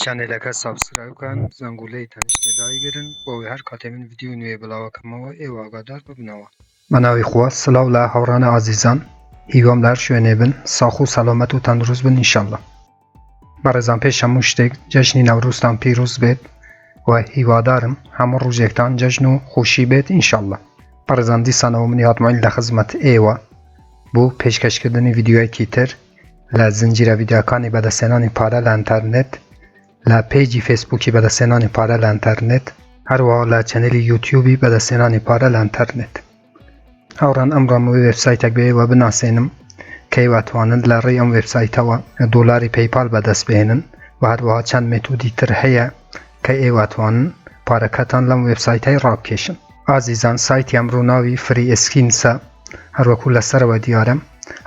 چەنێلەکە سابسکرایب کەن زەنگولەی تەنیشتێ دایگرن بۆوەی هەر کاتێ من ڤیدیۆی نوێ بڵاوەکەمەوە ئێوە ئاگادار ببنەوە. بەناوی خوا سلاو لە هاوڕانە ئازیزان هیوام لە هەر شوێنێ بن ساخ و سەلامەت و تەندروست بن ان شاءاللە بەڕێزان پێش هەموو شتێک جەژنی نەورۆزتان پیرۆز بێت و هیوادارم هەموو ڕوژێکتان جەژن و خۆشی بێت ان شاءاللە بەڕێزان دیسانەوە منی هاتمۆیل لە خزمەت ئێوە بۆ پێشکەشکردنی ڤیدیۆیەکی تر لە زنجیرە ڤیدیۆکانی بەدەستهێنانی پارە لە ئەنتەرنێت، لە پەیجی فەیسبووکی بەدەستهێنانی پارە لە ئەنتەرنێت، هەروەها لە چەنێلی یوتیوبی بەدەستهێنانی پارە لە ئەنتەرنێت. هاوڕێیان ئەمڕۆم وێ وێبسایتێک بە ئێوە بناسێنم کە ئێوە ئەتوانن لە ڕێی ئەم وێبسایتەوە دۆلاری پەیپال بەدەست بهێنن و هەروەها چەند مێتودی تر هەیە کە ئێوە ئەتوانن پارەکەتان لەم وێبسایتەی ڕابکێشن. ئازیزان سایتی ئەمڕۆ ناوی فری ئیسکینسە هەروەکو لەسەرەوە دیارە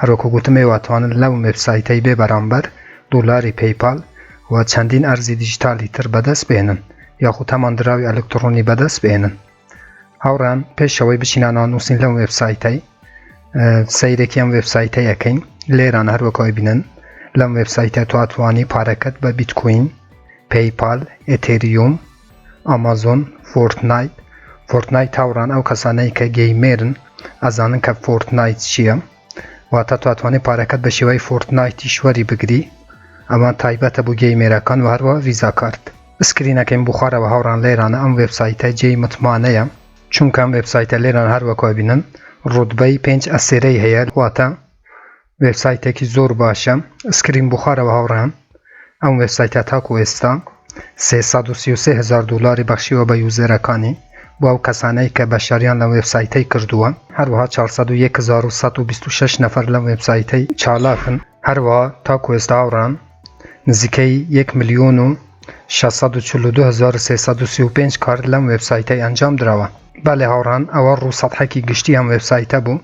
هەروەکو گوتم ئێوە ئەتوانن لەو وێبسایتەی بێ بەرامبەر دۆلاری پەیپال و چەندین ئەرزی دیجیتالی تر بەدەست بێنن یاخود هەمان دراوی ئەلکتڕۆنی بەدەست بێنن هاوڕان پێشەوەی بچینە نانووسین لەم وێبسایتەی سەیرێکی ئەم وێبسایتە یەکەین لێران هەروەکەوەی بینن لەم وێبسایتە تواتوانی پارەکەت بە بیتکوین پەیپال ئتریوم ئەمازۆن فۆرتنایت Fortnite هاوڕان ئەو کەسانەی کە گەیمێرن ئەزانن کە فۆرتنایت چییە واتە تواتوانێت پارەکەت بە شێوای فۆرتنایتیش وەری بگری ئەمە تایبەتە بۆ گەی مێراکان و هەروە ڤیزا کارت سکرینەکەیم بخوارەوە هاوڕان لێرانە ئەم وێبسایتە جێی متمانەیە چونکەم وێبسایتە لێران هەروەکوبینن ڕوتبەی پێنج ئەسێرەی هەیە واتە. وێبسایتێکی زۆر باشە سکرین بخوارەوە هاوڕێیان ئەم وێبسایتە تاکو ئێستا 333 هزار دلاری بەخشیوە بە یوزەرەکانی بۆ ئەو کەسانەی کە بەشداریان لە وێبسایتەی کردووە هەروەها 40126 نەفەر لەم وێبسایتەی چالاکن هەروەها تاکو ئێستا هاوڕان نزیکەی 1 ملیۆن و 642335 کارت لەم وێبسایتەی ئەنجام درەوە بەێ هاوڕان ئەوە ڕوو سەحەکی گشتی ئەم وێبسایتە بوو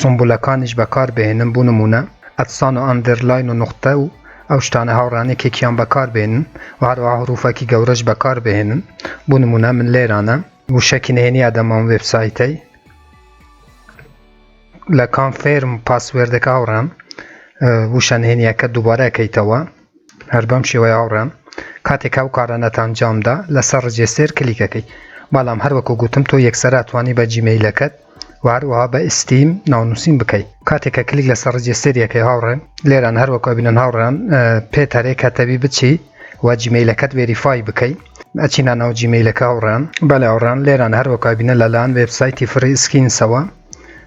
سومبولەکانیش بەکار بهێنن بو نمونە ئەتسان و ئەندرلاین و نوقتە و ئەو شتانە هاوڕان یەکێکیان بەکار بێنن و هەروەها هروفەکی گەورەش بەکار بهێنن بو نمونە من لێرانە وشەکی نهێنی ئەدەم ئەم وێبسایتەی لە کام فێرم پاسوێردەکە هاوڕان وشە نهێنیەکە دوبارە ئەکەیتەوە هەر بەم شێوەیە هاوڕێیان کاتێک ئەو کارە نەتانجام دا لەسەر ڕجێستێر کلیک ئەکەی بەڵام هەر وەکو گوتم تۆ یەکسەر ئەتوانی بە جیمەیلەکەت و هەروەها بە ئیستیم ناونووسین بکەی کاتێک کە کلیک لەسەر ڕجێستێر یەکەی هاوڕێن لێران هەر وەکو بینن هاوڕێیان پێ تەرێک هەتەوی بچی و جیمەیلەکەت وێریفای بکەی ئەچینە ناو جیمەیلەکە هاوڕێیان بەلێ هاوڕێیان لێران هەر وەکو بینە لەلایەن وێبسایتی فری سکینسەوە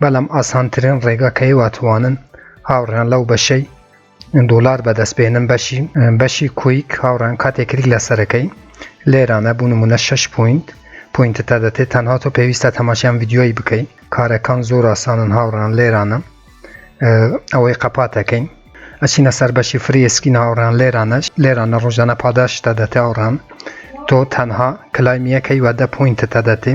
بەلام ئاسانترین رێگا کەی واتوانن هاوریان لەو بەشەی دولار بەدەست بێنن بەشی بەشی کویک هاوریان کاتێ کلیک لەسەرەکەی لێرانە بو نمونە شەش پوینت پوینت تا دەتێ تەنها تۆ پێویستە تەماشیان ڤیدیۆی بکەی کارەکان زۆر ئاسانن هاوریان لێرانە ئەوەی قەپاتەکەی ئەچینە سەر بەشی فری ئسکین هاوریان لێرانەش لێرانە رۆژانە پاداشتە دەتێ هاوریان تۆ تەنها کلایم یەکەی وە دە پوینت تا دەتێ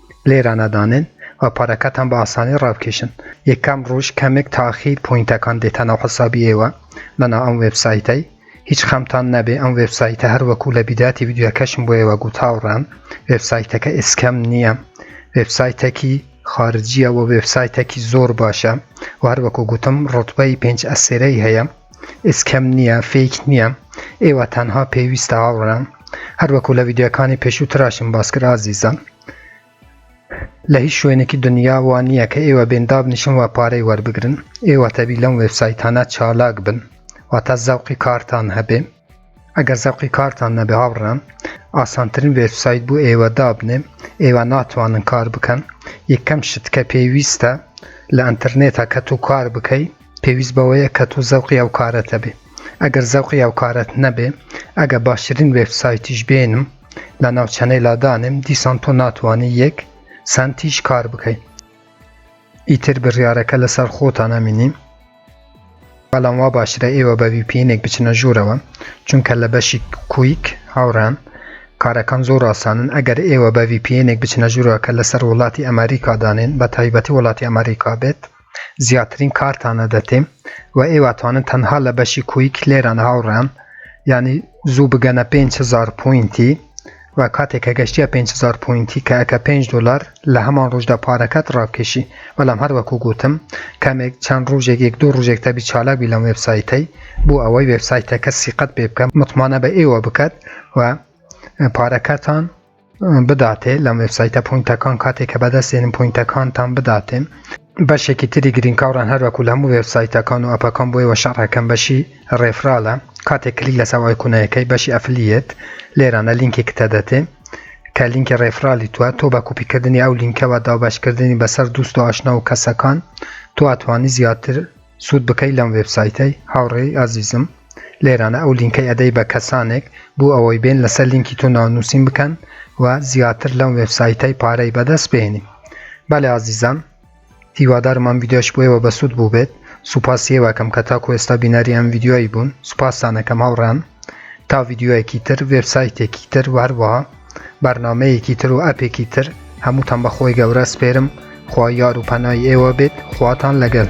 لێرانە دانێن و پارەکەتان بە ئاسانی ڕابکێشن یەکەم ڕۆژ کەمێک تاخیر پۆینتەکان دێتە ناو حسابی ئێوە لەناو ئەم وێبسایتەی هیچ خەمتان نەبێ ئەم وێبسایتە هەر وەکو لە بیداتی ویدیوەکەشم بۆ ئێوە گوتاوڕێم وێبسایتەکە ئسکەم نییە وێبسایتەکی خارجیە و وێبسایتەکی زۆر باشە و هەروەکو گوتم ڕوتبەی پێنج ئەسێرەی هەیە ئێسکەم نیە فیک نیە ئێوە تەنها پێویستە هاوڕێیان هەروەکو لە ویدیۆکانی پێشوو تراشم باسکرد ئازیزان لە هیچ شوێنێکی دنیا وا نییە کە ئێوە بێن دابنیشن و پارەی وەربگرن ئێوە تەبی لەم وێبسایتانە چالاک بن واتە زەوقی کارتان هەبێ ئەگەر زەوقی کارتان نەبێ هاوڕێیان ئاسانترین وێبسایت بۆ ئێوە دابنێ ئێوە ناتوانن کار بکەن یەکەم شت کە پێویستە لە ئەتەرنێتە کە تو کار بکەی پێویست بەوەیە کە تو زەوقی ئەو کارەتە بێ ئەگەر زەوقی ئەو کارەت نەبێ ئەگە باشترین وێبسایتیش بێنم لە ناوچەنەی لادانێم دیسان تۆ ناتوانانی یەک سنتیش کار بکەی ئیتر بڕیارەکە لەسەر خۆتان ئەمینیم بەڵام وا باشترە ئێوە بە VPN ێک بچنە ژوورەوە چونکە لە بەشی کویک هاوڕان کارەکان زۆر ئاسانن ئەگەر ئێوە بە VPN ێک بچنە ژوورەوە کە لەسەر وڵاتی ئەمریکا دانێن بە تایبەتی وڵاتی ئەمریکا بێت زیاترین کارتانە دەتێم و ئێوەتوانن تەنها لە بەشی کویک لێران هاوڕان ینی زوو بگەنە 5هزار پوینتی وە کاتێک کە گەشتیە پێنج هەزار پۆینتی کە ئەکا پێنج دۆلار لە هەمان ڕۆژدا پارەکەت ڕابکێشی بەڵام هەر وەکو گۆتم کەمێک چەند ڕۆژێک یەک دوو ڕۆژێک تەبی چالاک بی لەم وێبسایتەی بۆ ئەوەی وێبسایتەکە سیقەت پێ بکە متمانە بە ئێوە بکەت و پارەکەتان بداتێ لەم وێبسایتە پوینتەکان کاتێک کە بەدەستێنن پوینتەکانتان بداتێن بەشێکی تری گرین کاوران هەروەکو لە هەموو وێب سایتەکان و ئەپەکان بۆ ئێوە شەڕح ئەکەم بەشی ڕێفرالە کاتێک کلیک لەسەر ئایکونە یەکەی بەشی ئەفلیەت لێرانە لینکێکتە دەتێ کە لینکی ڕێفرالی توە تۆ بە کوپی کردنی ئەو لینکەوە دابەش کردنی بەسەر دوست و ئاشنا و کەسەکان تۆ ئەتوانی زیاتر سود بکەی لەم وێب سایتەی هاوڕێی ئازیزم لێرانە ئەو لینکەی ئەدەی بە کەسانێک بو ئەوەی بێن لەسەر لینکی تۆ ناونوسین بکەن و زیاتر لەم وێب سایتەی پارەی بەدەست بێنی بەلێ ئازیزان هیوادارم ئەم ویددیۆش بۆیەوە بەسود بوو بێت سوپاسی ئێوەکەم کە تاکو ئێستا بینەری ئەم ویددیۆی بوون سوپاسانەکەم هاوڕان تا ویددیۆیەکی تر وێبسایتێکی تر وهەروەها بەرنامەیەکی تر و ئەپێکی تر هەمووتان بە خۆی گەورە سپێرم خوا یار و پەنای ئێوە بێت خواتان لەگەل.